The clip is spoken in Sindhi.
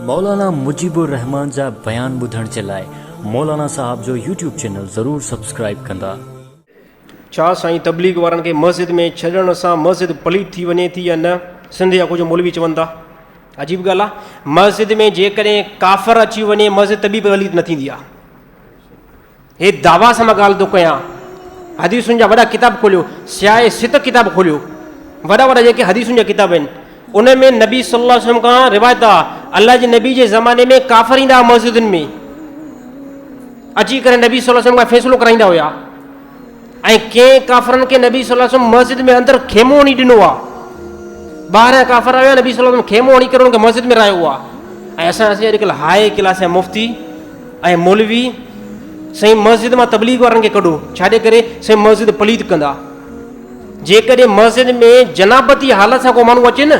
مولانا مجيب الرحمان جا بيان ٻڌڻ جي لاء مولانا صاحب جو يوٽيوب چينل ضرور سبسڪرائيب ڪندا. ڇا سائين تبليغ وارن کي مسجد ۾ ڇڏڻ سان مسجد پليت ٿي وڃي ٿي يا نه سنڌ جا ڪجهه مولوي چون ٿا عجيب ڳالهه آهي مسجد ۾ جيڪڏهن ڪافر اچي وڃي مسجد ته به پليت نه ٿيندي آهي. هي دعويٰ سان مان ڳالهه ٿو ڪيان. حديثن جا وڏا ڪتاب کوليو، سياء ست ڪتاب کوليو، وڏا وڏا جيڪي حديثن جا ڪتاب آهن، ان ۾ نبي صلي الله عليه وسلم کان روايت آ، الله جي نبي جي زماني ۾ ڪافر ايندا هئا مسجدن ۾، اچي ڪري نبي صلي الله عليه وسلم کان فيصلو ڪرائيندا هيا. ۽ ڪئين ڪافرن کي نبي صلي الله عليه وسلم مسجد ۾ اندر خيمو هڻي ڏنو آ ٻاهران ڪافر آيا نبي صلي الله عليه وسلم خيمو هڻي ڪري ان کي مسجد ۾ رايو آ ۽ اسان اسين اڄ ڪل هاء ڪلاس يا مفتي ۽ مولوي سائين مسجد مان تبليغ وارن کي ڪڍو ڇا جي ڪري سائين مسجد پليت ڪندا جيڪڏهن مسجد ۾ جنابتي حالت سان ڪو ماڻهو اچي نه